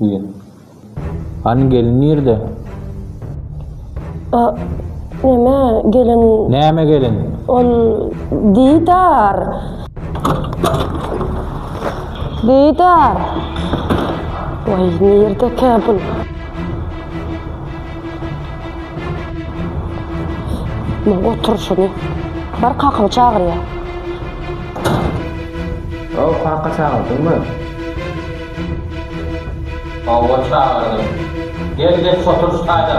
diye. Hani gelin nerede? A, neme gelin Neme gelin? ol Didar. Didar. Oy nerede ki bu? Muň oturyşyny. Bar kakyňy çagyrýa. Haw, kaka çagyrdyňmy? Hawa çagyrdym. Gel geç otur çaýda.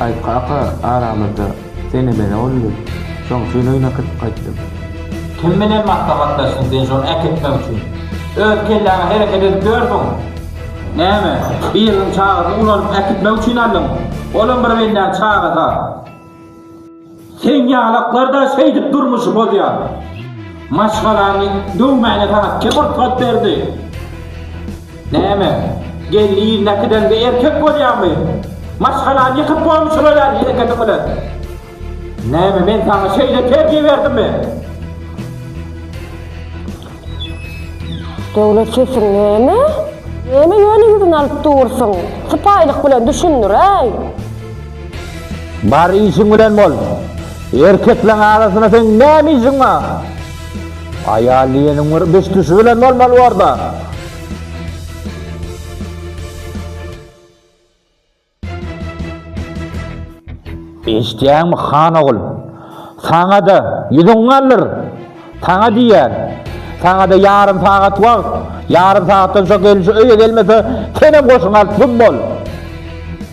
Aýt kaka, aramyzda sen emele boldy, şoň üçin öýüne kirip gaýtdym. Kim bilen maslahatlaşdyň sen şony äkitmek üçin? Öz kelläňe hereket edip ýörsüň. Näme, biriniň çagasyny ulanyp äkitmek üçin aldyň? Olam bir bendäň çagasy-a. Seň ýalaklarda şeýdip durmuşy bozýar. Maşgalaňy döwmäne saňa kim rugsat berdi? Näme, gelni ýylyna äkideňde erkek bolýaňmy? Maşgalany ýykyp goýuň şular ýaly hereketiň bilen. Näme, men saňa şeýle terbiýe berdimmi? Döwlet sesiň näme? Näme ýöne ýüzüňi alyp dursuň? Sypaýylyk bilen düşündiräý! Bar işiň bilen bol! Erkekleň arasynda seň näme işiň bar? Aýal diýeniň bir biş-düşi bilen bolmaly bor-da! Eşitýäňmi, han ogul? Saňa-da ýüzüň galyr! Saňa diýýän! Saňa-da ýarym sagat wagt! Ýarym sagatdan soň gelnje öýe gelmese, senem goşuňy alyp güm bol!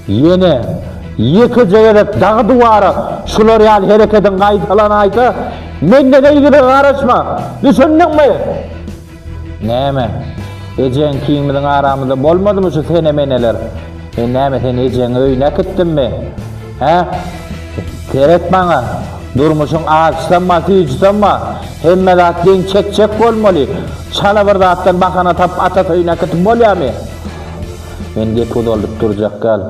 Ýene ýekeje gezek dagy-duwara şular ýaly hereketiň gaýtalanaýsa, menden yzyna garaşma! Düşündiňmi? Näme? Ejeň kiň biziň aramyzda bolmadymy şu sene-meneler? Men näme seni ejeňiň öýüne äkitdimmi? Hä? Seret maňa! Durmuşyň ajysam bar, süýjisem bar. Hemme zat deň çekjek bolmaly. Çala bir zatdan bahana tapyp atasy öýüne äkitip bolýamy? Men gepi uzaldyp durjak däl.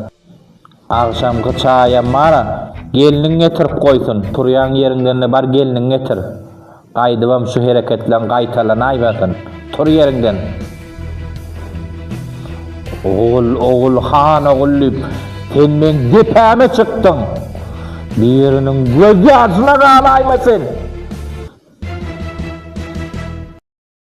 Agşamky çaýam bar-a. Gelniň getirip goýsun. Turýan ýeriňden-de bar gelniňi getir. Gaýdybam şu hereketleň gaýtalanaýmasyn. Tur ýeriňden! Ogul, ogul, han ogul diýip, sen meň depäme çykdyň. Biriniň gözýaşyna galaýma sen!